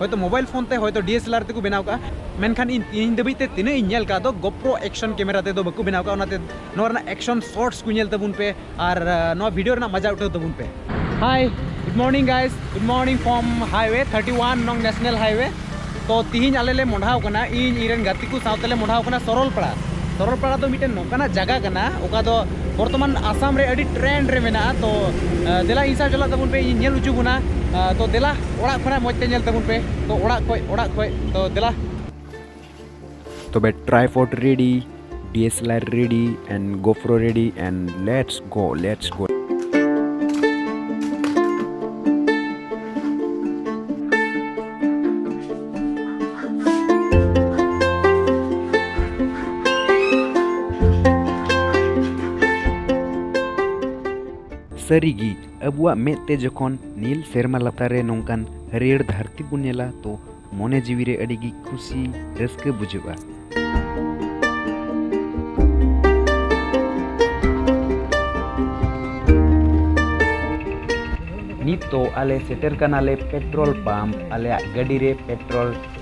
ᱦᱚᱭᱛᱚ mobile phone ᱛᱮ ᱦᱚᱭᱛᱚ ᱰᱤᱮᱥᱮᱞᱟᱨ ᱛᱮᱠᱚ ᱵᱮᱱᱟᱣ ᱠᱟᱜᱼᱟ ᱢᱮᱱᱠᱷᱟᱱ ᱤᱧ ᱛᱮᱦᱮᱧ ᱫᱷᱟᱹᱵᱤᱡ ᱛᱮ ᱛᱤᱱᱟᱹᱜ ᱤᱧ ᱧᱮᱞ ᱠᱟᱜ ᱫᱚ ᱜᱚᱯᱨᱳ ᱮᱠᱥᱚᱱ ᱠᱮᱢᱮᱨᱟ ᱛᱮᱫᱚ ᱵᱟᱠᱚ ᱵᱮᱱᱟᱣ ᱠᱟᱜᱼᱟ ᱚᱱᱟᱛᱮ ᱱᱚᱣᱟ ᱨᱮᱱᱟᱜ ᱮᱠᱥᱚᱱ ᱥᱚᱴᱥ ᱠᱚ ᱧᱮᱞ ᱛᱟᱵᱚᱱ ᱯᱮ ᱟᱨ ᱱᱚᱣᱟ ᱵᱷᱤᱰᱤᱭᱳ ᱨᱮᱱᱟᱜ ᱢᱟᱡᱟ ᱩᱴᱷᱟᱹᱣ ᱛᱟᱵᱚᱱ ᱯᱮ hi good morning guys good morning from highway thirty one ᱱᱚᱝ ᱱᱮᱥᱱᱟᱞ ᱦᱟᱭᱣᱮ ᱛᱚ ᱛᱤᱦᱤᱧ ᱟᱞᱮ ᱞᱮ ᱢᱚᱰᱷᱟᱣ ᱠᱟᱱᱟ ᱤᱧ ᱤᱧᱨᱮᱱ ᱜᱟᱛᱮ ᱠᱚ ᱥᱟᱶᱛᱮ ᱞᱮ ᱢᱚᱰᱷᱟᱣ ᱠᱟᱱᱟ ᱥᱚᱨᱚᱞᱯᱟᱲᱟ ᱥᱚᱨᱚᱞᱯᱟᱲᱟ ᱫᱚ ᱢᱤᱫᱴᱮᱱ ᱱᱚᱝᱠᱟᱱᱟᱜ ᱡᱟᱭᱜᱟ ᱠᱟᱱᱟ ᱚᱠᱟ ᱫᱚ ᱵᱚᱨᱛᱚᱢᱟᱱ ᱟᱥᱟᱢ ᱨᱮ ᱟᱹᱰᱤ ᱴᱨᱮᱱᱰ ᱨᱮ ᱢᱮᱱᱟᱜᱼᱟ ᱛᱚ ᱫᱮᱞᱟ ᱤᱧ ᱥᱟᱶ ᱪᱟᱞᱟᱜ ᱛᱟᱵᱚᱱ ᱯᱮ ᱤᱧ ᱧᱮᱞ ᱦᱚᱪᱚ ᱵᱚᱱᱟ ᱛᱚ ᱫᱮᱞᱟ ᱚᱲᱟᱜ ᱠᱷᱚᱱᱟᱜ ᱢᱚᱡᱽ ᱛᱮ ᱧᱮᱞ ᱛᱟᱵᱚᱱ ᱯᱮ ᱛᱚ ᱚᱲᱟᱜ ᱠᱷᱚᱡ ᱚᱲᱟᱜ ᱠᱷᱚᱡ ᱛᱚ ᱫᱮᱞᱟ ᱛᱚᱵᱮ tripod ready DSLR ready and GoPro ready and let's go let's go ᱥᱟᱹᱨᱤᱜᱮ ᱟᱵᱚᱣᱟᱜ ᱢᱮᱫ ᱛᱮ ᱡᱚᱠᱷᱚᱱ ᱱᱤᱞ ᱥᱮᱨᱢᱟ ᱞᱟᱛᱟᱨ ᱨᱮ ᱱᱚᱝᱠᱟᱱ ᱦᱟᱹᱨᱭᱟᱹᱲ ᱫᱷᱟᱹᱨᱛᱤ ᱵᱚᱱ ᱧᱮᱞᱟ ᱛᱚ ᱢᱚᱱᱮ ᱡᱤᱣᱤ ᱨᱮ ᱟᱹᱰᱤ ᱜᱮ ᱠᱷᱩᱥᱤ ᱨᱟᱹᱥᱠᱟᱹ ᱵᱩᱡᱷᱟᱹᱜᱼᱟ ᱱᱤᱛ ᱫᱚ ᱟᱞᱮ ᱥᱮᱴᱮᱨ ᱠᱟᱱᱟᱞᱮ ᱯᱮᱴᱨᱳᱞ ᱯᱟᱢᱯ ᱟᱞᱮᱭᱟᱜ ᱜᱟᱹᱰᱤ ᱨᱮ ᱯᱮᱴᱨᱳᱞ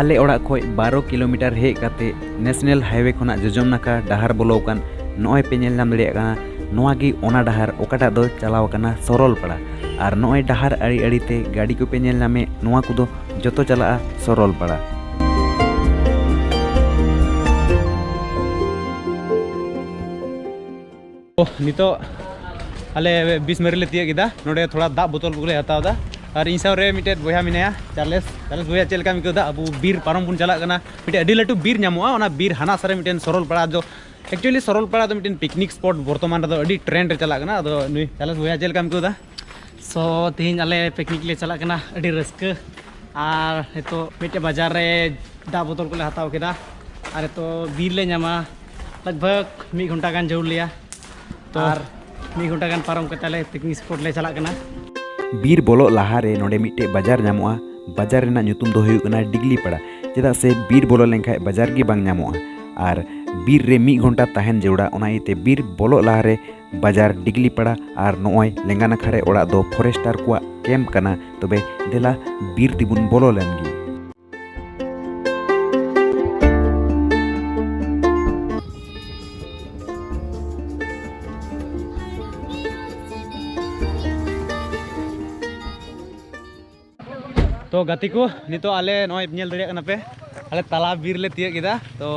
ᱟᱞᱮ ᱚᱲᱟᱜ ᱠᱷᱚᱡ ᱵᱟᱨᱚ ᱠᱤᱞᱳᱢᱤᱴᱟᱨ ᱦᱮᱡ ᱠᱟᱛᱮ ᱱᱮᱥᱱᱮᱞ ᱦᱟᱭᱣᱮ ᱠᱷᱚᱱᱟᱜ ᱡᱚᱡᱚᱢ ᱱᱟᱠᱷᱟ ᱰᱟᱦᱟᱨ ᱵᱚᱞᱚ ᱟᱠᱟᱱ ᱱᱚᱜᱼᱚᱭ ᱯᱮ ᱧᱮᱞ ᱧᱟᱢ ᱫᱟᱲᱮᱭᱟᱜ ᱠᱟᱱᱟ ᱱᱚᱣᱟ ᱜᱮ ᱚᱱᱟ ᱰᱟᱦᱟᱨ ᱚᱠᱟᱴᱟᱜ ᱫᱚ ᱪᱟᱞᱟᱣ ᱟᱠᱟᱱᱟ ᱥᱚᱨᱚᱞᱯᱟᱲᱟ ᱟᱨ ᱱᱚᱜᱼᱚᱭ ᱰᱟᱦᱟᱨ ᱟᱲᱮ ᱟᱲᱮ ᱛᱮ ᱜᱟᱹᱰᱤ ᱠᱚᱯᱮ ᱧᱮᱞ ᱧᱟᱢᱮᱫ ᱱᱚᱣᱟ ᱠᱚᱫᱚ ᱡᱚᱛᱚ ᱪᱟᱞᱟᱜᱼᱟ ᱥᱚᱨᱚᱞᱯᱟᱲᱟ ᱱᱤᱛᱚᱜ ᱟᱞᱮ ᱵᱤᱥ ᱢᱟᱹᱨᱤ ᱞᱮ ᱛᱤᱭᱟᱹᱜ ᱠᱮᱫᱟ ᱱᱚᱰᱮ ᱛᱷᱚᱲᱟ ᱫᱟᱜ ᱵᱳᱛᱚᱞ ᱠᱚᱞᱮ ᱦᱟᱛᱟᱣ ᱮᱫᱟ ᱟᱨ ᱤᱧ ᱥᱟᱶᱨᱮ ᱢᱤᱫᱴᱮᱡ ᱵᱚᱭᱦᱟ ᱢᱮᱱᱟᱭᱟ ᱪᱟᱨᱞᱮᱥ ᱪᱟᱨᱞᱮᱥ ᱵᱚᱭᱦᱟ ᱪᱮᱫ ᱞᱮᱠᱟᱢ ᱟᱹᱭᱠᱟᱹᱣᱫᱟ ᱟᱵᱚ ᱵᱤᱨ ᱯᱟᱨᱚᱢ ᱵᱚᱱ ᱪᱟᱞᱟᱜ ᱠᱟᱱᱟ ᱢᱤᱫᱴᱮᱡ ᱟᱹᱰᱤ ᱞᱟᱹᱴᱩ ᱵᱤᱨ ᱧᱟᱢᱚᱜᱼᱟ ᱚᱱᱟ ᱵᱤᱨ ᱦᱟᱱᱟ ᱥᱟᱨᱮ ᱢᱤᱫᱴᱮᱱ ᱥᱚᱨᱚᱞᱯᱟᱲᱟ ᱫᱚ ᱮᱠᱪᱩᱭᱮᱞᱤ ᱥᱚᱨᱚᱞᱯᱟᱲᱟ ᱫᱚ ᱢᱤᱫᱴᱮᱱ ᱯᱤᱠᱱᱤᱠ ᱥᱯᱚᱴ ᱵᱚᱨᱛᱚᱢᱟᱱ ᱨᱮᱫᱚ ᱟᱹᱰᱤ ᱴᱨᱮᱱᱰ ᱨᱮ ᱪᱟᱞᱟᱜ ᱠᱟᱱᱟ ᱟᱫᱚ ᱱᱩᱭ ᱪᱟᱨᱞᱮᱥ ᱵᱚᱭᱦᱟ ᱪᱮᱫ ᱞᱮᱠᱟᱢ ᱟᱹᱭᱠᱟᱹᱣᱫᱟ ᱥᱚ ᱛᱮᱦᱮᱧ ᱟᱞᱮ ᱯᱤᱠᱱᱤᱠ ᱞᱮ ᱪᱟᱞᱟᱜ ᱠᱟᱱᱟ ᱟᱹᱰᱤ ᱨᱟᱹᱥᱠᱟᱹ ᱟᱨ ᱱᱤᱛᱚᱜ ᱢᱤᱫᱴᱮᱡ ᱵᱟᱡᱟᱨ ᱨᱮ ᱫᱟᱜ ᱵᱚᱛᱚᱞ ᱠᱚᱞᱮ ᱦᱟᱛᱟᱣ ᱠᱮᱫᱟ ᱟᱨ ᱱᱤᱛᱚᱜ ᱵᱤᱨ ᱞᱮ ᱧᱟᱢᱟ ᱞᱟᱜᱽ ᱵᱷᱟᱜᱽ ᱢᱤᱫ ᱜᱷᱚᱱᱴᱟ ᱜᱟᱱ ᱡᱟᱹᱨᱩᱲ ᱞᱮᱭᱟ ᱛᱚ ᱟᱨ ᱢᱤᱫ ᱜᱷᱚᱱᱴᱟ ᱜᱟᱱ ᱯᱟᱨᱚᱢ ᱠᱟᱛᱮ ᱟᱞᱮ ᱯᱤᱠᱱᱤᱠ ᱥᱯᱚᱴ ᱞᱮ ᱪᱟᱞᱟᱜ ᱠᱟᱱᱟ ᱵᱤᱨ ᱵᱚᱞᱚᱜ ᱞᱟᱦᱟ ᱨᱮ ᱱᱚᱰᱮ ᱢᱤᱫᱴᱮᱡ ᱵᱟᱡᱟᱨ ᱧᱟᱢᱚᱜᱼᱟ ᱵᱟᱡᱟᱨ ᱨᱮᱱᱟᱜ ᱧᱩᱛᱩᱢ ᱫᱚ ᱦᱩᱭᱩᱜ ᱠᱟᱱᱟ ᱰᱤᱜᱽᱞᱤ ᱯᱟᱲᱟ ᱪᱮᱫᱟᱜ ᱥᱮ ᱵᱤᱨ ᱵᱚᱞᱚ ᱞᱮᱱᱠᱷᱟᱡ ᱵᱟᱡᱟᱨ ᱜᱮ ᱵᱟᱝ ᱧᱟᱢᱚᱜᱼᱟ ᱟᱨ ᱵᱤᱨ ᱨᱮ ᱢᱤᱫ ᱜᱷᱚᱱᱴᱟ ᱛᱟᱦᱮᱱ ᱡᱟᱹᱨᱩᱲᱟ ᱚᱱᱟ ᱤᱭᱟᱹᱛᱮ ᱵᱤᱨ ᱵᱚᱞᱚᱜ ᱞᱟᱦᱟ ᱨᱮ ᱵᱟᱡᱟᱨ ᱰᱤᱜᱽᱞᱤ ᱯᱟᱲᱟ ᱟᱨ ᱱᱚᱜᱼᱚᱭ ᱞᱮᱸᱜᱟ ᱱᱟᱠᱷᱟ ᱨᱮ ᱚᱲᱟᱜ ᱫᱚ ᱯᱷᱚᱨᱮᱥᱴᱟᱨ ᱠᱚᱣᱟᱜ ᱠᱮᱢᱯ ᱠᱟᱱᱟ ᱛᱚᱵᱮ ᱫᱮᱞᱟ ᱵᱤᱨ ᱛᱮᱵᱚᱱ ᱵᱚᱞᱚ ᱞᱮᱱ ᱜᱮ ᱛᱚ ᱜᱟᱛᱮ ᱠᱚ ᱱᱤᱛᱚᱜ ᱟᱞᱮ ᱱᱚᱜᱼᱚᱭ ᱧᱮᱞ ᱫᱟᱲᱮᱭᱟᱜ ᱠᱟᱱᱟ ᱯᱮ ᱟᱞᱮ ᱛᱟᱞᱟ ᱵᱤᱨ ᱞᱮ ᱛᱤᱭᱟᱹᱜ ᱠᱮᱫᱟ ᱛᱚ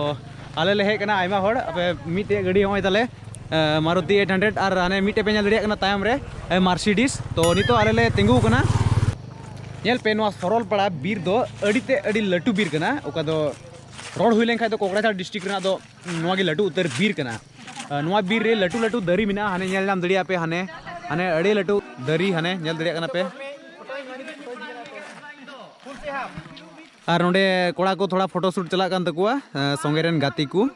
ᱟᱞᱮ ᱞᱮ ᱦᱮᱡ ᱠᱟᱱᱟ ᱟᱭᱢᱟ ᱦᱚᱲ ᱟᱯᱮ ᱢᱤᱫᱴᱮᱡ ᱜᱟᱹᱰᱤ ᱱᱚᱜᱼᱚᱭ ᱛᱟᱞᱮ ᱢᱟᱨᱩᱛᱤ ᱮᱭᱤᱴ ᱦᱟᱱᱰᱨᱮᱰ ᱟᱨ ᱦᱟᱱᱮ ᱢᱤᱫᱴᱮᱡ ᱯᱮ ᱧᱮᱞ ᱫᱟᱲᱮᱭᱟᱜ ᱠᱟᱱᱟ ᱛᱟᱭᱚᱢ ᱨᱮ ᱢᱟᱨᱥᱤᱰᱤᱥ ᱛᱚ ᱱᱤᱛᱚᱜ ᱟᱞᱮ ᱞᱮ ᱛᱤᱸᱜᱩ ᱠᱟᱱᱟ ᱧᱮᱞ ᱯᱮ ᱱᱚᱣᱟ ᱥᱚᱨᱚᱞᱯᱟᱲᱟ ᱵᱤᱨ ᱫᱚ ᱟᱹᱰᱤ ᱛᱮ ᱟᱹᱰᱤ ᱞᱟᱹᱴᱩ ᱵᱤᱨ ᱠᱟᱱᱟ ᱚᱠᱟ ᱫᱚ ᱨᱚᱲ ᱦᱩᱭ ᱞᱮᱱᱠᱷᱟᱡ ᱫᱚ ᱠᱚᱠᱲᱟᱡᱷᱟᱲ ᱰᱤᱥᱴᱨᱤᱠ ᱨᱮᱱᱟᱜ ᱫᱚ ᱱᱚᱣᱟ ᱜᱮ ᱞᱟᱹᱴᱩ ᱩᱛᱟᱹᱨ ᱵᱤᱨ ᱠᱟᱱᱟ ᱱᱚᱣᱟ ᱵᱤᱨ ᱨᱮ ᱞᱟᱹᱴᱩ ᱞᱟᱹᱴᱩ ᱫᱟᱨᱮ ᱢᱮᱱᱟᱜᱼᱟ ᱦᱟᱱᱮ ᱧᱮᱞ ᱧᱟᱢ ᱫᱟᱲᱮᱭᱟᱜᱼᱟ ᱯᱮ ᱦᱟᱱᱮ ᱦᱟᱱᱮ ᱟᱹᱰᱤ ᱞᱟᱹᱴᱩ ᱫᱟᱨᱮ ᱦᱟᱱᱮ ᱧᱮᱞ ᱫᱟᱲᱮᱭᱟᱜ ᱠᱟᱱᱟ ᱯᱮ ᱟᱨ ᱱᱚᱰᱮ ᱠᱚᱲᱟ ᱠᱚ ᱛᱷᱚᱲᱟ ᱯᱷᱳᱴᱳ ᱥᱩᱴ ᱪᱟᱞᱟᱜ ᱠᱟᱱ ᱛᱟᱠᱚᱣᱟ ᱥᱚᱸᱜᱮ ᱨᱮᱱ ᱜᱟᱛᱮ ᱠᱚ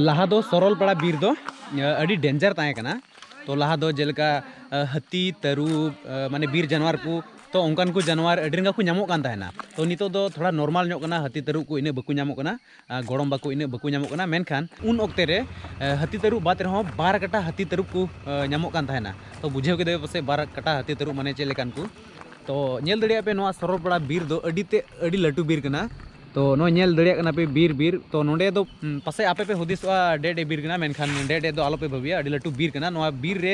ᱞᱟᱦᱟ ᱫᱚ ᱥᱚᱨᱚᱞᱯᱟᱲᱟ ᱵᱤᱨ ᱫᱚ ᱟᱹᱰᱤ ᱰᱮᱧᱡᱟᱨ ᱛᱟᱦᱮᱸ ᱠᱟᱱᱟ ᱛᱚ ᱞᱟᱦᱟ ᱫᱚ ᱡᱮᱞᱮᱠᱟ ᱦᱟᱹᱛᱤ ᱛᱟᱹᱨᱩᱵ ᱢᱟᱱᱮ ᱵᱤᱨ ᱡᱟᱱᱣᱟᱨ ᱠᱚ ᱛᱚ ᱚᱱᱠᱟᱱ ᱠᱚ ᱡᱟᱱᱣᱟᱨ ᱟᱹᱰᱤ ᱨᱟᱸᱜᱟᱣ ᱠᱚ ᱧᱟᱢᱚᱜ ᱠᱟᱱ ᱛᱟᱦᱮᱱᱟ ᱛᱚ ᱱᱤᱛᱚᱜ ᱫᱚ ᱛᱷᱚᱲᱟ ᱱᱚᱨᱢᱟᱞ ᱧᱚᱜ ᱠᱟᱱᱟ ᱦᱟᱹᱛᱤ ᱛᱟᱹᱨᱩᱵ ᱠᱚ ᱤᱱᱟᱹᱜ ᱵᱟᱠᱚ ᱧᱟᱢᱚᱜ ᱠᱟᱱᱟ ᱜᱚᱲᱚᱢ ᱵᱟᱠᱚ ᱤᱱᱟᱹᱜ ᱵᱟᱠᱚ ᱧᱟᱢᱚᱜ ᱠᱟᱱᱟ ᱢᱮᱱᱠᱷᱟᱱ ᱩᱱ ᱚᱠᱛᱮ ᱨᱮ ᱦᱟᱹᱛᱤ ᱛᱟᱹᱨᱩᱵ ᱵᱟᱫ ᱨᱮᱦᱚᱸ ᱵᱟᱨ ᱠᱟᱴᱟ ᱦᱟᱹᱛᱤ ᱛᱟᱹᱨᱩᱵ ᱠᱚ ᱧᱟᱢᱚᱜ ᱠᱟᱱ ᱛᱟᱦᱮᱱᱟ ᱛᱚ ᱵᱩᱡᱷᱟᱹᱣ ᱠᱮᱫᱟ ᱯᱟᱥᱮ ᱵᱟᱨ ᱠᱟᱴᱟ ᱦᱟᱹᱛᱤ ᱛᱟᱹᱨᱩᱵ ᱢᱟᱱᱮ ᱪᱮᱫ ᱞᱮᱠᱟᱱ ᱠᱚ ᱛᱚ ᱧᱮᱞ ᱫᱟᱲᱮᱭᱟᱜ ᱯᱮ ᱱᱚᱣᱟ ᱥᱚᱨᱚᱞᱯᱟᱲᱟ ᱵᱤᱨ ᱫᱚ ᱟᱹᱰᱤ ᱛᱮ ᱟᱹᱰᱤ ᱞᱟᱹᱴᱩ ᱵᱤᱨ ᱠᱟᱱᱟ ᱛᱚ ᱱᱚᱜᱼᱚᱭ ᱧᱮᱞ ᱫᱟᱲᱮᱭᱟᱜ ᱠᱟᱱᱟ ᱯᱮ ᱵᱤᱨ ᱵᱤᱨ ᱛᱚ ᱱᱚᱰᱮ ᱫᱚ ᱯᱟᱥᱮ ᱟᱯᱮ ᱯᱮ ᱦᱩᱫᱤᱥᱚᱜᱼᱟ ᱰᱮᱰ ᱮ ᱵᱤᱨ ᱠᱟᱱᱟ ᱢᱮᱱᱠᱷᱟᱱ ᱰᱮᱰ ᱮ ᱫᱚ ᱟᱞᱚᱯᱮ ᱵᱷᱟᱹᱵᱤᱭᱟ ᱟᱹᱰᱤ ᱞᱟᱹᱴᱩ ᱵᱤᱨ ᱠᱟᱱᱟ ᱱᱚᱣᱟ ᱵᱤᱨ ᱨᱮ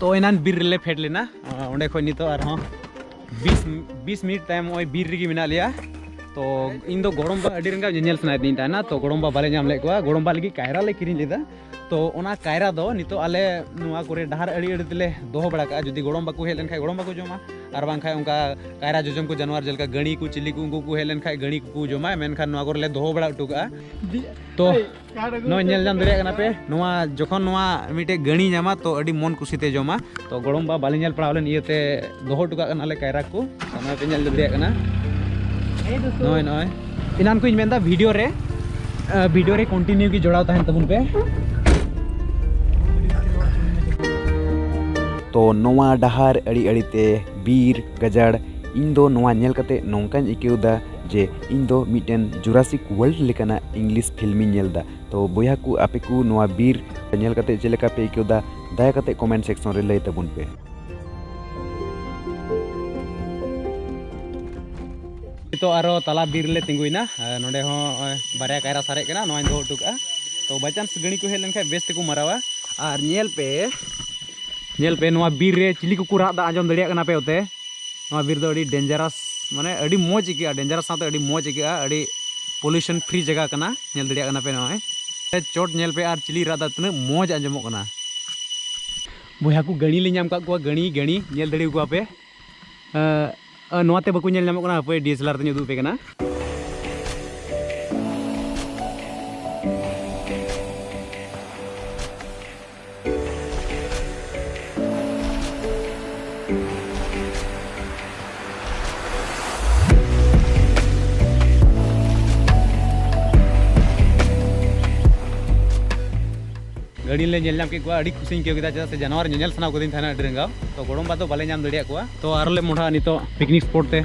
ᱛᱚ ᱮᱱᱟᱱ ᱵᱤᱨ ᱨᱮᱞᱮ ᱯᱷᱮᱰ ᱞᱮᱱᱟ ᱚᱸᱰᱮ ᱠᱷᱚᱱ ᱱᱤᱛᱚᱜ ᱟᱨᱦᱚᱸ ᱵᱤᱥ ᱵᱤᱥ ᱢᱤᱱᱤᱴ ᱛᱟᱭᱚᱢ ᱱᱚᱜᱼᱚᱭ ᱵᱤᱨ ᱨᱮᱜᱮ ᱢᱮᱱᱟᱜ ᱞᱮᱭᱟ ᱛᱚ ᱤᱧ ᱫᱚ ᱜᱚᱲᱚᱢᱵᱟ ᱟᱹᱰᱤ ᱨᱮᱸᱜᱟ ᱧᱮᱧᱮᱞ ᱥᱟᱱᱟᱭᱮᱫᱤᱧ ᱛᱟᱦᱮᱱᱟ ᱛᱚ ᱜᱚᱲᱚᱢᱵᱟ ᱵᱟᱞᱮ ᱧᱟᱢ ᱞᱮᱫ ᱠᱚᱣᱟ ᱜᱚᱲᱚᱢᱵᱟ ᱞᱟᱹᱜᱤᱫ ᱠᱟᱭᱨᱟ ᱞᱮ ᱠᱤᱨᱤᱧ ᱞᱮᱫᱟ ᱛᱚ ᱚᱱᱟ ᱠᱟᱭᱨᱟ ᱫᱚ ᱱᱤᱛᱚᱜ ᱟᱞᱮ ᱱᱚᱣᱟ ᱠᱚᱨᱮ ᱰᱟᱦᱟᱨ ᱟᱹᱲᱤ ᱟᱹᱲᱤ ᱛᱮᱞᱮ ᱫᱚᱦᱚ ᱵᱟᱲᱟ ᱠᱟᱜᱼᱟ ᱡᱩᱫᱤ ᱜᱚᱲᱚᱢ ᱵᱟᱠᱚ ᱦᱮᱡ ᱞᱮᱱᱠᱷᱟᱱ ᱜᱚᱲᱚᱢ ᱵᱟᱠᱚ ᱡᱚᱢᱟ ᱟᱨ ᱵᱟᱝᱠᱷᱟᱱ ᱚᱱᱠᱟ ᱠᱟᱭᱨᱟ ᱡᱚᱡᱚᱢ ᱠᱚ ᱡᱟᱱᱣᱟᱨ ᱡᱮᱞᱮᱠᱟ ᱜᱟᱹᱬᱤ ᱠᱚ ᱪᱤᱞᱤ ᱠᱚ ᱩᱱᱠᱩ ᱠᱚ ᱦᱮᱡ ᱞᱮᱱᱠᱷᱟᱱ ᱜᱟᱹᱬᱤ ᱠᱚᱠᱚ ᱡᱚᱢᱟ ᱢᱮᱱᱠᱷᱟᱱ ᱱᱚᱣᱟ ᱠᱚᱨᱮ ᱞᱮ ᱫᱚᱦᱚ ᱵᱟᱲᱟ ᱦᱚᱴᱚ ᱠᱟᱜᱼᱟ ᱛᱚ ᱱᱚᱣᱟ ᱧᱮᱞ ᱧᱟᱢ ᱫᱟᱲᱮᱭᱟᱜ ᱠᱟᱱᱟ ᱯᱮ ᱱᱚᱣᱟ ᱡᱚᱠᱷᱚᱱ ᱱᱚᱣᱟ ᱢᱤᱫᱴᱮᱡ ᱜᱟᱹᱬᱤ ᱧᱟᱢᱟ ᱛᱚ ᱟᱹᱰᱤ ᱢᱚᱱ ᱠᱩᱥᱤᱛᱮ ᱡᱚᱢᱟ ᱛᱚ ᱜᱚᱲᱚᱢ ᱵᱟ ᱵᱟᱞᱮ ᱧᱮᱞ ᱯᱟᱲᱟᱣ ᱞᱮᱱ ᱤᱭᱟᱹᱛᱮ ᱫᱚᱦᱚ ᱦᱚᱴᱚ ᱠᱟᱜ ᱠᱟᱱᱟᱞᱮ ᱠᱟᱭᱨᱟ ᱠᱚ ᱚᱱᱟ ᱯᱮ ᱧᱮᱞ ᱫᱟᱲᱮᱭᱟᱜ ᱠᱟᱱᱟ ᱱᱚᱜᱼᱚᱭ ᱱᱚᱜᱼᱚᱭ ᱮᱱᱟᱱ ᱠᱚᱧ ᱢᱮᱱᱫᱟ ᱵᱷᱤᱰᱤᱭᱳ ᱨᱮ ᱵᱷᱤᱰᱤᱭᱳ ᱨᱮ ᱠᱚᱱᱴᱤᱱᱤᱭᱩ ᱜᱮ ᱡᱚᱲᱟᱣ ᱛᱟᱦᱮᱱ ᱛᱟᱵᱚᱱ ᱯᱮ ᱛᱚ ᱱᱚᱣᱟ ᱰᱟᱦᱟᱨ ᱟᱹᱲᱤ ᱟᱹᱲᱤᱛᱮ ᱵᱤᱨ ᱜᱟᱡᱟᱲ ᱤᱧ ᱫᱚ ᱱᱚᱣᱟ ᱧᱮᱞ ᱠᱟᱛᱮ ᱱᱚᱝᱠᱟᱧ ᱟᱹᱭᱠᱟᱹᱣ ᱮᱫᱟ ᱡᱮ ᱤᱧ ᱫᱚ ᱢᱤᱫᱴᱮᱱ ᱡᱩᱨᱟᱥᱤᱠ ᱣᱟᱨᱞᱰ ᱞᱮᱠᱟᱱᱟᱜ ᱤᱝᱞᱤᱥ ᱯᱷᱤᱞᱢ ᱤᱧ ᱧᱮᱞ ᱮᱫᱟ ᱛᱚ ᱵᱚᱭᱦᱟ ᱠᱚ ᱟᱯᱮ ᱠᱚ ᱱᱚᱣᱟ ᱵᱤᱨ ᱧᱮᱞ ᱠᱟᱛᱮ ᱪᱮᱫ ᱞᱮᱠᱟ ᱯᱮ ᱟᱹᱭᱠᱟᱹᱣ ᱮᱫᱟ ᱫᱟᱭᱟ ᱠᱟᱛᱮ ᱠᱚᱢᱮᱱᱴ ᱥᱮᱠᱥᱚᱱ ᱨᱮ ᱞᱟᱹᱭ ᱛᱟᱵᱚᱱ ᱯᱮ ᱱᱤᱛᱚᱜ ᱟᱨᱚ ᱛᱟᱞᱟ ᱵᱤᱨ ᱞᱮ ᱛᱤᱸᱜᱩᱭᱮᱱᱟ ᱱᱚᱰᱮ ᱦᱚᱸ ᱵᱟᱨᱭᱟ ᱠᱟᱭᱨᱟ ᱥᱟᱨᱮᱡ ᱠᱟᱱᱟ ᱱᱚᱣᱟᱧ ᱫᱚᱦᱚ ᱦᱚᱴᱚ ᱠᱟᱜᱼᱟ ᱛᱚ ᱵᱟᱭ ᱪᱟᱱᱥ ᱜᱟᱹᱲᱤ ᱠᱚ ᱦᱮᱡ ᱞᱮᱱᱠᱷᱟᱱ ᱵᱮᱥ ᱛᱮᱠᱚ ᱢᱟᱨᱟᱣᱟ ᱟᱨ ᱧᱮᱞ ᱯᱮ ᱧᱮᱞ ᱯᱮ ᱱᱚᱣᱟ ᱵᱤᱨ ᱨᱮ ᱪᱤᱞᱤ ᱠᱚᱠᱚ ᱨᱟᱜ ᱮᱫᱟ ᱟᱸᱡᱚᱢ ᱫᱟᱲᱮᱭᱟᱜ ᱠᱟᱱᱟ ᱯᱮ ᱚᱛᱮ ᱱᱚᱣᱟ ᱵᱤᱨ ᱫᱚ ᱟᱹᱰᱤ ᱰᱮᱧᱡᱟᱨᱟᱥ ᱢᱟᱱᱮ ᱟᱹᱰᱤ ᱢᱚᱡᱽ ᱟᱹᱭᱠᱟᱹᱜᱼᱟ ᱰᱮᱧᱡᱟᱨᱟᱥ ᱥᱟᱶᱛᱮ ᱟᱹᱰᱤ ᱢᱚᱡᱽ ᱟᱹᱭᱠᱟᱹᱜᱼᱟ ᱟᱹᱰᱤ ᱯᱚᱞᱤᱭᱩᱥᱚᱱ ᱯᱷᱨᱤ ᱡᱟᱭᱜᱟ ᱠᱟᱱᱟ ᱧᱮᱞ ᱫᱟᱲᱮᱭᱟᱜ ᱠᱟᱱᱟ ᱯᱮ ᱱᱚᱜᱼᱚᱭ ᱪᱚᱴ ᱧᱮᱞ ᱯᱮ ᱟᱨ ᱪᱤᱞᱤ ᱨᱟᱜ ᱫᱟ ᱛᱤᱱᱟᱹᱜ ᱢᱚᱡᱽ ᱟᱸᱡᱚᱢᱚᱜ ᱠᱟᱱᱟ ᱵᱚᱭᱦᱟ ᱠᱚ ᱜᱟᱹᱲᱤ ᱞᱮ ᱧᱟᱢ ᱠᱟᱜ ᱠᱚᱣᱟ ᱜᱟᱹᱲᱤ ᱜᱟᱹᱲᱤ ᱧᱮᱞ ᱫᱟᱲᱮ ᱠᱚᱣᱟ ᱯᱮ ᱱᱚᱣᱟ ᱛᱮ ᱵᱟᱠᱚ ᱧᱮᱞ ᱧᱟᱢᱚᱜ ᱠᱟᱱᱟ ᱦᱟᱯᱮ ᱰᱤᱭᱮᱥᱮᱞᱟᱨ ᱛᱮᱧ ᱩᱫᱩᱜ ᱯᱮ ᱠᱟᱱᱟ ᱜᱟᱹᱰᱤ ᱞᱮ ᱧᱮᱞ ᱧᱟᱢ ᱠᱮᱫ ᱠᱚᱣᱟ ᱟᱹᱰᱤ ᱠᱩᱥᱤᱧ ᱟᱹᱭᱠᱟᱹᱣ ᱠᱮᱫᱟ ᱪᱮᱫᱟᱜ ᱥᱮ ᱡᱟᱱᱣᱟᱨ ᱧᱮᱧᱮᱞ ᱥᱟᱱᱟ ᱠᱟᱹᱫᱤᱧ ᱛᱟᱦᱮᱱᱟ ᱟᱹᱰᱤ ᱨᱟᱸᱜᱟᱣ ᱛᱚ ᱜᱚᱲᱚᱢ ᱵᱟ ᱫᱚ ᱵᱟᱞᱮ ᱧᱟᱢ ᱫᱟᱲᱮᱭᱟᱜ ᱠᱚᱣᱟ ᱛᱚ ᱟᱨᱚ ᱞᱮ ᱢᱚᱦᱰᱟᱜᱼᱟ ᱱᱤᱛᱚᱜ ᱯᱤᱠᱱᱤᱠ ᱥᱯᱚᱴ ᱛᱮ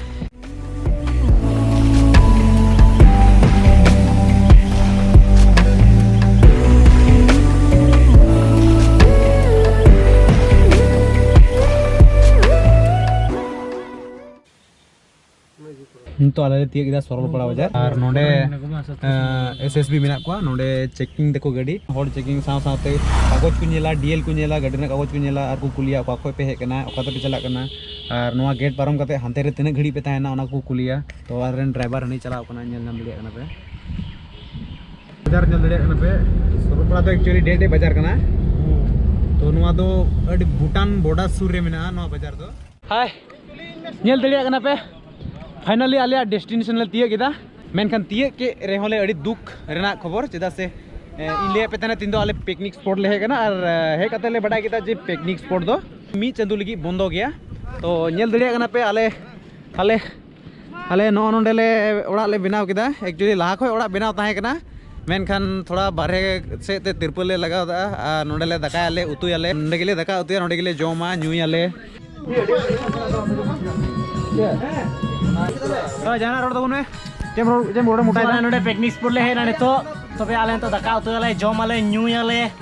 ᱱᱤᱛᱚᱜ ᱟᱞᱮ ᱞᱮ ᱛᱤᱭᱟᱹᱜ ᱠᱮᱫᱟ ᱥᱚᱨᱚᱞᱯᱟᱲᱟ ᱵᱟᱡᱟᱨ ᱟᱨ ᱱᱚᱰᱮ ᱮᱥ ᱮᱥ ᱵᱤ ᱢᱮᱱᱟᱜ ᱠᱚᱣᱟ ᱱᱚᱰᱮ ᱪᱮᱠᱤᱝ ᱫᱟᱠᱚ ᱜᱟᱹᱰᱤ ᱦᱚᱲ ᱪᱮᱠᱤᱝ ᱥᱟᱶ ᱥᱟᱶᱛᱮ ᱠᱟᱜᱚᱡᱽ ᱠᱚ ᱧᱮᱞᱟ ᱰᱤ ᱮᱞ ᱠᱚ ᱧᱮᱞᱟ ᱜᱟᱹᱰᱤ ᱨᱮᱱᱟᱜ ᱠᱟᱜᱚᱡᱽ ᱠᱚ ᱧᱮᱞᱟ ᱟᱨ ᱠᱚ ᱠᱩᱞᱤᱭᱟ ᱚᱠᱟ ᱠᱷᱚᱱ ᱯᱮ ᱦᱮᱡ ᱟᱠᱟᱱᱟ ᱚᱠᱟ ᱛᱮᱯᱮ ᱪᱟᱞᱟᱜ ᱠᱟᱱᱟ ᱟᱨ ᱱᱚᱣᱟ ᱜᱮᱴ ᱯᱟᱨᱚᱢ ᱠᱟᱛᱮ ᱦᱟᱱᱛᱮ ᱨᱮ ᱛᱤᱱᱟᱹᱜ ᱜᱷᱟᱹᱲᱤᱡ ᱯᱮ ᱛᱟᱦᱮᱱᱟ ᱚᱱᱟ ᱠᱚ ᱠᱩᱞᱤᱭᱟ ᱛᱚ ᱟᱞᱮ ᱨᱮᱱ ᱰᱨᱟᱭᱵᱷᱟᱨ ᱦᱟᱹᱱᱤ ᱪᱟᱞᱟᱣ ᱠᱟᱱᱟ ᱧᱮᱞ ᱧᱟᱢ ᱫᱟᱲᱮᱭᱟᱜ ᱠᱟᱱᱟ ᱯᱮ ᱵᱟᱡᱟᱨ ᱧᱮᱞ ᱫᱟᱲᱮᱭᱟᱜ ᱠᱟᱱᱟ ᱯᱮ ᱥᱚᱨᱚᱯᱟᱲᱟ ᱫᱚ ᱮᱠᱪᱩᱭᱟᱞᱤ ᱰᱮ ᱰᱮ ᱵᱟᱡᱟᱨ ᱠᱟᱱᱟ ᱛᱚ ᱱᱚᱣᱟ ᱫᱚ ᱟᱹᱰᱤ ᱵᱷᱩᱴᱟᱱ ᱵᱚᱰᱟᱨ ᱥᱩᱨ ᱨᱮ ᱢᱮᱱᱟᱜᱼᱟ ᱱᱚᱣᱟ ᱵᱟᱡᱟᱨ ᱫᱚ ᱦᱟᱭ ᱧᱮᱞ ᱫᱟᱲᱮᱭᱟᱜ ᱠᱟᱱᱟ ᱯᱮ ᱯᱷᱟᱭᱱᱟᱞᱤ ᱟᱞᱮᱭᱟᱜ ᱰᱮᱥᱴᱤᱱᱮᱥᱚᱱ ᱞᱮ ᱛᱤᱭᱟᱹᱜ ᱠᱮᱫᱟ ᱢᱮᱱᱠᱷᱟᱱ ᱛᱤᱭᱟᱹᱜ ᱠᱮᱫ ᱨᱮᱦᱚᱸ ᱞᱮ ᱟᱹᱰᱤ ᱫᱩᱠ ᱨᱮᱱᱟᱜ ᱠᱷᱚᱵᱚᱨ ᱪᱮᱫᱟᱜ ᱥᱮ ᱤᱧ ᱞᱟᱹᱭᱟᱫ ᱯᱮ ᱛᱟᱦᱮᱱᱟ ᱛᱤᱦᱤᱧ ᱫᱚ ᱟᱞᱮ ᱯᱤᱠᱱᱤᱠ ᱥᱯᱚᱴ ᱞᱮ ᱦᱮᱡ ᱠᱟᱱᱟ ᱟᱨ ᱦᱮᱡ ᱠᱟᱛᱮ ᱞᱮ ᱵᱟᱰᱟᱭ ᱠᱮᱫᱟ ᱡᱮ ᱯᱤᱠᱱᱤᱠ ᱥᱯᱚᱴ ᱫᱚ ᱢᱤᱫ ᱪᱟᱸᱫᱳ ᱞᱟᱹᱜᱤᱫ ᱵᱚᱱᱫᱚ ᱜᱮᱭᱟ ᱛᱚ ᱧᱮᱞ ᱫᱟᱲᱮᱭᱟᱜ ᱠᱟᱱᱟ ᱯᱮ ᱟᱞᱮ ᱟᱞᱮ ᱟᱞᱮ ᱱᱚᱜᱼᱚ ᱱᱚᱸᱰᱮ ᱞᱮ ᱚᱲᱟᱜ ᱞᱮ ᱵᱮᱱᱟᱣ ᱠᱮᱫᱟ ᱮᱠᱪᱩᱭᱮᱞᱤ ᱞᱟᱦᱟ ᱠᱷᱚᱱ ᱚᱲᱟᱜ ᱵᱮᱱᱟᱣ ᱛᱟᱦᱮᱸ ᱠᱟᱱᱟ ᱢᱮᱱᱠᱷᱟᱱ ᱛᱷᱚᱲᱟ ᱵᱟᱨᱦᱮ ᱥᱮᱫ ᱛᱮ ᱛᱤᱨᱯᱟᱹᱞ ᱞᱮ ᱞᱟᱜᱟᱣᱫᱟ ᱟᱨ ᱱᱚᱸᱰᱮ ᱞᱮ ᱫᱟᱠᱟᱭᱟᱞᱮ ᱩᱛᱩᱭᱟᱞᱮ ᱱᱚᱸᱰᱮ ᱜᱮᱞᱮ ᱫᱟᱠᱟ ᱩᱛᱩᱭᱟ ᱱᱚᱸᱰᱮ ᱜᱮᱞᱮ ᱡᱚᱢᱟ ᱧᱩᱭᱟᱞᱮ ᱡᱟᱦᱟᱱᱟᱜ ᱨᱚᱲ ᱛᱟᱵᱚᱱ ᱢᱮ ᱪᱮᱫ ᱨᱚᱲ ᱪᱮᱫ ᱨᱚᱲ ᱢᱚᱴᱟᱭ ᱱᱚᱸᱰᱮ ᱯᱤᱠᱱᱤᱠ ᱥᱯᱚᱴ ᱞᱮ ᱦᱮᱡ ᱮᱱᱟ ᱱᱤᱛᱚᱜ ᱛᱚᱵᱮ ᱟᱞᱮ ᱱᱤᱛᱚᱜ ᱫᱟᱠᱟ ᱩᱛᱩᱭᱟᱞᱮ ᱡᱚᱢᱟᱞᱮ ᱧᱩᱭᱟᱞᱮ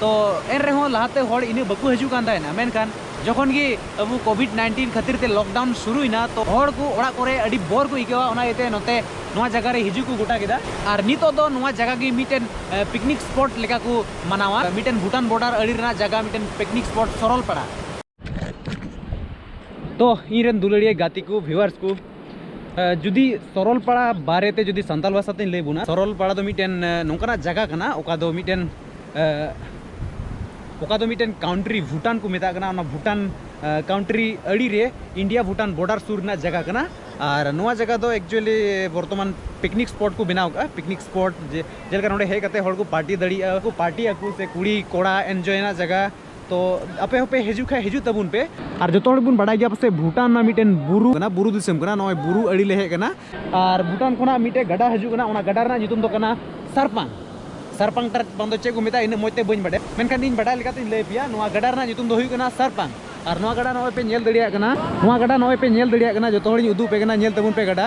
ᱛᱚ ᱮᱱ ᱨᱮᱦᱚᱸ ᱞᱟᱦᱟᱛᱮ ᱦᱚᱲ ᱤᱱᱟᱹᱜ ᱵᱟᱠᱚ ᱦᱤᱡᱩᱜ ᱠᱟᱱ ᱛᱟᱦᱮᱱᱟ ᱢᱮᱱᱠᱷᱟᱱ ᱡᱚᱠᱷᱚᱱ ᱜᱮ ᱟᱵᱚ ᱠᱳᱵᱷᱤᱰ ᱱᱟᱭᱤᱱᱴᱤᱱ ᱠᱷᱟᱹᱛᱤᱨ ᱛᱮ ᱞᱚᱠᱰᱟᱣᱩᱱ ᱥᱩᱨᱩᱭᱮᱱᱟ ᱛᱚ ᱦᱚᱲ ᱠᱚ ᱚᱲᱟᱜ ᱠᱚᱨᱮ ᱟᱹᱰᱤ ᱵᱚᱨ ᱠᱚ ᱟᱹᱭᱠᱟᱹᱣᱟ ᱚᱱᱟ ᱤᱭᱟᱹᱛᱮ ᱱᱚᱛᱮ ᱱᱚᱣᱟ ᱡᱟᱭᱜᱟ ᱨᱮ ᱦᱤᱡᱩᱜ ᱠᱚ ᱜᱚᱴᱟ ᱠᱮᱫᱟ ᱟᱨ ᱱᱤᱛᱚᱜ ᱫᱚ ᱱᱚᱣᱟ ᱡᱟᱭᱜᱟ ᱜᱮ ᱢᱤᱫᱴᱮᱱ ᱯᱤᱠᱱᱤᱠ ᱥᱯᱚᱴ ᱞᱮᱠᱟ ᱠᱚ ᱢᱟᱱᱟᱣᱟ ᱢᱤᱫᱴᱮᱱ ᱵᱷᱩᱴᱟᱱ ᱵᱚᱰᱟᱨ ᱟᱲᱮ ᱨᱮᱱᱟᱜ ᱡᱟᱭᱜᱟ ᱢᱤᱫᱴᱮᱱ ᱯᱤᱠᱱᱤᱠ ᱥᱯᱚᱴ ᱥᱚᱨᱚᱞᱯᱟᱲᱟ ᱛᱚ ᱤᱧ ᱨᱮᱱ ᱫᱩᱞᱟᱹᱲᱤᱭᱟᱹ ᱜᱟᱛᱮ ᱠᱚ ᱵᱷᱤᱣᱟᱨᱥ ᱠᱚ ᱡᱩᱫᱤ ᱥᱚᱨᱚᱞᱯᱟᱲᱟ ᱵᱟᱨᱮ ᱛᱮ ᱡᱩᱫᱤ ᱥᱟᱱᱛᱟᱲ ᱵᱷᱟᱥᱟ ᱛᱮᱧ ᱞᱟᱹᱭ ᱵᱚᱱᱟ ᱥᱚᱨᱚᱞᱯᱟᱲᱟ ᱫᱚ ᱢᱤᱫᱴᱮᱱ ᱱᱚᱝᱠᱟᱱᱟᱜ ᱡᱟᱭᱜᱟ ᱠᱟᱱᱟ ᱚᱠᱟ ᱫᱚ ᱢᱤᱫᱴᱮᱱ ᱚᱠᱟ ᱫᱚ ᱢᱤᱫᱴᱮᱱ ᱠᱟᱣᱩᱱᱴᱨᱤ ᱵᱷᱩᱴᱟᱱ ᱠᱚ ᱢᱮᱛᱟᱜ ᱠᱟᱱᱟ ᱚᱱᱟ ᱵᱷᱩᱴᱟᱱ ᱠᱟᱣᱩᱱᱴᱨᱤ ᱟᱹᱲᱤ ᱨᱮ ᱤᱱᱰᱤᱭᱟ ᱵᱷᱩᱴᱟᱱ ᱵᱚᱰᱟᱨ ᱥᱩᱨ ᱨᱮᱱᱟᱜ ᱡᱟᱭᱜᱟ ᱠᱟᱱᱟ ᱟᱨ ᱱᱚᱣᱟ ᱡᱟᱭᱜᱟ ᱫᱚ ᱮᱠᱪᱩᱭᱮᱞᱤ ᱵᱚᱨᱛᱚᱢᱟᱱ ᱯᱤᱠᱱᱤᱠ ᱥᱯᱚᱴ ᱠᱚ ᱵᱮᱱᱟᱣ ᱠᱟᱜᱼᱟ ᱯᱤᱠᱱᱤᱠ ᱥᱯᱚᱴ ᱡᱮ ᱡᱮᱞᱮᱠᱟ ᱱᱚᱰᱮ ᱦᱮᱡ ᱠᱟᱛᱮ ᱦᱚᱲ ᱠᱚ ᱯᱟᱨᱴᱤ ᱫᱟᱲᱮᱭᱟᱜᱼᱟ ᱠᱚ ᱯᱟᱨᱴᱤᱭᱟᱠᱚ ᱥᱮ ᱠᱩᱲᱤ ᱠᱚᱲᱟ ᱮᱱᱡᱚᱭ ᱨᱮᱱᱟᱜ ᱡᱟᱭᱜᱟ ᱛᱚ ᱟᱯᱮ ᱦᱚᱸᱯᱮ ᱦᱤᱡᱩᱜ ᱠᱷᱟᱱ ᱦᱤᱡᱩᱜ ᱛᱟᱵᱚᱱ ᱯᱮ ᱟᱨ ᱡᱚᱛᱚ ᱦᱚᱲ ᱵᱚᱱ ᱵᱟᱰᱟᱭ ᱜᱮᱭᱟ ᱯᱟᱥᱮ ᱵᱷᱩᱴᱟᱱ ᱨᱮᱱᱟᱜ ᱢᱤᱫᱴᱮᱱ ᱵᱩᱨᱩ ᱠᱟᱱᱟ ᱵᱩᱨᱩ ᱫᱤᱥᱚᱢ ᱠᱟᱱᱟ ᱱᱚᱜᱼᱚᱭ ᱵᱩᱨᱩ ᱟᱹᱰᱤ ᱞᱮ ᱦᱮᱡ ᱠᱟᱱᱟ ᱟᱨ ᱵᱷᱩᱴᱟᱱ ᱠᱷᱚᱱᱟᱜ ᱢᱤᱫᱴᱮᱱ ᱜᱟᱰᱟ ᱦᱤᱡᱩᱜ ᱠᱟᱱᱟ ᱚᱱᱟ ᱜᱟᱰᱟ ᱨᱮᱱᱟᱜ ᱧᱩᱛᱩᱢ ᱫᱚ ᱠᱟᱱᱟ ᱥᱟᱨᱯᱟᱝ ᱥᱟᱨᱯᱟᱝ ᱴᱟᱨ ᱵᱟᱝ ᱫᱚ ᱪᱮᱫ ᱠᱚ ᱢᱮᱛᱟᱜᱼᱟ ᱤᱱᱟᱹᱜ ᱢᱚᱡᱽ ᱛᱮ ᱵᱟᱹᱧ ᱵᱟᱰᱟᱭᱟ ᱢᱮᱱᱠᱷᱟᱱ ᱤᱧ ᱵᱟᱰᱟᱭ ᱞᱮᱠᱟᱛᱮᱧ ᱞᱟᱹᱭ ᱯᱮᱭᱟ ᱱᱚᱣᱟ ᱜᱟᱰᱟ ᱨᱮᱱᱟᱜ ᱧᱩᱛᱩᱢ ᱫᱚ ᱦᱩᱭᱩᱜ ᱠᱟᱱᱟ ᱥᱟᱨᱯᱟᱝ ᱟᱨ ᱱᱚᱣᱟ ᱜᱟᱰᱟ ᱱᱚᱜᱼᱚᱭ ᱯᱮ ᱧᱮᱞ ᱫᱟᱲᱮᱭᱟᱜ ᱠᱟᱱᱟ ᱱᱚᱣᱟ ᱜᱟᱰᱟ ᱱᱚᱜᱼᱚᱭ ᱯᱮ ᱧᱮᱞ ᱫᱟᱲᱮᱭᱟᱜ ᱠᱟᱱᱟ ᱡᱚᱛᱚ ᱦᱚᱲᱤᱧ ᱩᱫᱩᱜ ᱟᱯᱮ ᱠᱟᱱᱟ ᱧᱮᱞ ᱛᱟᱵᱚᱱ ᱯᱮ ᱜᱟᱰᱟ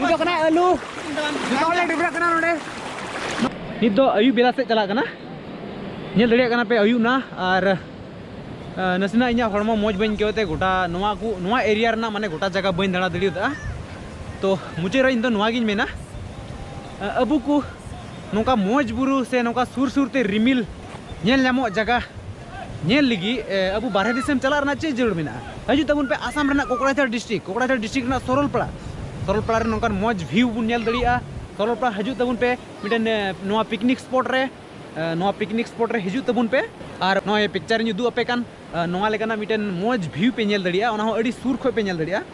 ᱱᱤᱛᱚᱜ ᱠᱟᱱᱟ ᱟᱹᱞᱩ ᱡᱚᱛᱚ ᱦᱚᱲ ᱞᱮ ᱰᱤᱵᱨᱟᱹᱜ ᱠᱟᱱᱟ ᱱᱚᱰᱮ ᱱᱤᱛ ᱫᱚ ᱟᱹᱭᱩᱵ ᱵᱮᱞᱟ ᱥᱮᱫ ᱪᱟᱞᱟᱜ ᱠᱟᱱᱟ ᱧᱮᱞ ᱫᱟᱲᱮᱭᱟᱜ ᱠᱟᱱᱟ ᱯᱮ ᱟᱹᱭᱩᱵ ᱱᱟ ᱟᱨ ᱱᱟᱥᱮᱱᱟᱜ ᱤᱧᱟᱹᱜ ᱦᱚᱲᱢᱚ ᱢᱚᱡᱽ ᱵᱟᱹᱧ ᱟᱹᱭᱠᱟᱹᱣ ᱛᱮ ᱜᱚᱴᱟ ᱱᱚᱣᱟ ᱠᱚ ᱱᱚᱣᱟ ᱮᱨᱤᱭᱟ ᱨᱮᱱᱟᱜ ᱢᱟᱱᱮ ᱜᱚᱴᱟ ᱡᱟᱭᱜᱟ ᱵᱟᱹᱧ ᱫᱟᱬᱟ ᱫᱟᱲᱮᱭᱟᱫᱟ ᱛᱚ ᱢᱩᱪᱟᱹᱫ ᱨᱮ ᱤᱧ ᱫᱚ ᱱᱚᱣᱟ ᱜᱤᱧ ᱢᱮᱱᱟ ᱟᱵᱚ ᱠᱚ ᱱᱚᱝᱠᱟ ᱢᱚᱡᱽ ᱵᱩᱨᱩ ᱥᱮ ᱱᱚᱝᱠᱟ ᱥᱩᱨ ᱥᱩᱨ ᱛᱮ ᱨᱤᱢᱤᱞ ᱧᱮᱞ ᱧᱟᱢᱚᱜ ᱡᱟᱭᱜᱟ ᱧᱮᱞ ᱞᱟᱹᱜᱤᱫ ᱟᱵᱚ ᱵᱟᱨᱦᱮ ᱫᱤᱥᱚᱢ ᱪᱟᱞᱟᱜ ᱨᱮᱱᱟᱜ ᱪᱮᱫ ᱡᱟᱹᱨᱩᱲ ᱢᱮᱱᱟᱜᱼᱟ ᱦᱤᱡᱩᱜ ᱛᱟᱵᱚᱱ ᱯᱮ ᱟᱥᱟᱢ ᱨᱮᱱᱟᱜ ᱠᱚᱠᱲᱟᱡᱷᱟᱲ ᱰᱤᱥᱴᱨᱤᱠ ᱠᱚᱠᱲᱟᱡᱷᱟᱲ ᱰᱤᱥᱴᱨᱤᱠ ᱨᱮᱱᱟᱜ ᱥᱚᱨᱚᱞᱯᱟᱲᱟ ᱥᱚᱨᱚᱞᱯᱟᱲᱟ ᱨᱮ ᱱᱚᱝᱠᱟᱱ ᱢᱚᱡᱽ ᱵᱷᱤᱭᱩ ᱵᱚᱱ ᱧᱮᱞ ᱫᱟᱲᱮᱭᱟᱜᱼᱟ ᱥᱚᱨᱚᱞᱯᱟᱲᱟ ᱦᱤᱡᱩᱜ ᱛᱟᱵᱚᱱ ᱯᱮ ᱢᱤᱫᱴᱮᱱ ᱱᱚᱣᱟ ᱯᱤᱠᱱᱤᱠ ᱥᱯᱚᱴ ᱨᱮ ᱱᱚᱣᱟ ᱯᱤᱠᱱᱤᱠ ᱥᱯᱚᱴ ᱨᱮ ᱦᱤᱡᱩᱜ ᱛᱟᱵᱚᱱ ᱯᱮ ᱟᱨ ᱱᱚᱜᱼᱚᱭ ᱯᱤᱠᱪᱟᱨ ᱤᱧ ᱩᱫᱩᱜ ᱟᱯᱮ ᱠᱟᱱ ᱱᱚᱣᱟ ᱞᱮᱠᱟᱱᱟᱜ ᱢᱤᱫᱴᱮᱱ ᱢᱚᱡᱽ ᱵᱷᱤᱭᱩ ᱯᱮ ᱧᱮᱞ ᱫᱟᱲᱮᱭᱟᱜᱼᱟ ᱚᱱᱟ ᱦᱚᱸ ᱟᱹᱰᱤ ᱥᱩᱨ ᱠᱷᱚᱱ ᱯᱮ ᱧᱮᱞ ᱫᱟᱲᱮᱭᱟᱜᱼᱟ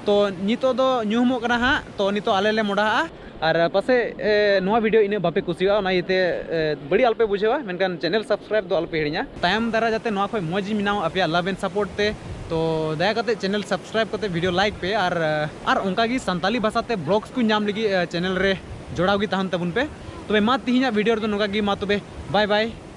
ᱛᱚ ᱱᱤᱛᱚᱜ ᱫᱚ ᱧᱩᱦᱩᱢᱚᱜ ᱠᱟᱱᱟ ᱦᱟᱸᱜ ᱛᱚ ᱱᱤᱛᱚᱜ ᱟᱞᱮ ᱞᱮ ᱢᱚᱰᱟᱜᱼᱟ ᱟᱨ ᱯᱟᱥᱮᱡ ᱱᱚᱣᱟ ᱵᱷᱤᱰᱤᱭᱳ ᱤᱱᱟᱹᱜ ᱵᱟᱯᱮ ᱠᱩᱥᱤᱭᱟᱜᱼᱟ ᱚᱱᱟ ᱤᱭᱟᱹᱛᱮ ᱵᱟᱹᱲᱤᱡ ᱟᱞᱚᱯᱮ ᱵᱩᱡᱷᱟᱹᱣᱟ ᱢᱮᱱᱠᱷᱟᱱ ᱪᱮᱱᱮᱞ ᱥᱟᱵᱥᱠᱨᱟᱭᱤᱵ ᱫᱚ ᱟᱞᱚᱯᱮ ᱦᱤᱲᱤᱧᱟ ᱛᱟᱭᱚᱢ ᱫᱟᱨᱟ ᱡᱟᱛᱮ ᱱᱚᱣᱟ ᱠᱷᱚᱱ ᱢᱚᱡᱽ ᱤᱧ ᱵᱮᱱᱟᱣ ᱟᱯᱮᱭᱟᱜ ᱞᱟᱵᱷ ᱮᱱᱰ ᱥᱟᱯᱳᱨᱴ ᱛᱮ ᱛᱚ ᱫᱟᱭᱟ ᱠᱟᱛᱮ ᱪᱮᱱᱮᱞ ᱥᱟᱵᱥᱠᱨᱟᱭᱤᱵ ᱠᱟᱛᱮ ᱵᱷᱤᱰᱤᱭᱳ ᱞᱟᱭᱤᱠ ᱯᱮ ᱟᱨ ᱟᱨ ᱚᱱᱠᱟ ᱜᱮ ᱥᱟᱱᱛᱟᱞᱤ ᱵᱷᱟᱥᱟ ᱛᱮ ᱵᱞᱚᱜᱥ ᱠᱚ ᱧᱟᱢ ᱞᱟᱹᱜᱤᱫ ᱪᱮᱱᱮᱞ ᱨᱮ ᱡᱚᱲᱟᱣ ᱜᱮ ᱛᱟᱦᱮᱱ ᱛᱟᱵᱚᱱ ᱯᱮ ᱛᱚᱵᱮ ᱢᱟ ᱛᱮᱦᱮᱧᱟᱜ ᱵᱷᱤᱰᱤᱭᱳ ᱨᱮᱫᱚ ᱱᱚᱝᱠᱟ ᱜᱮ ᱢᱟ ᱛᱚᱵᱮ ᱵᱟᱭ ᱵᱟᱭ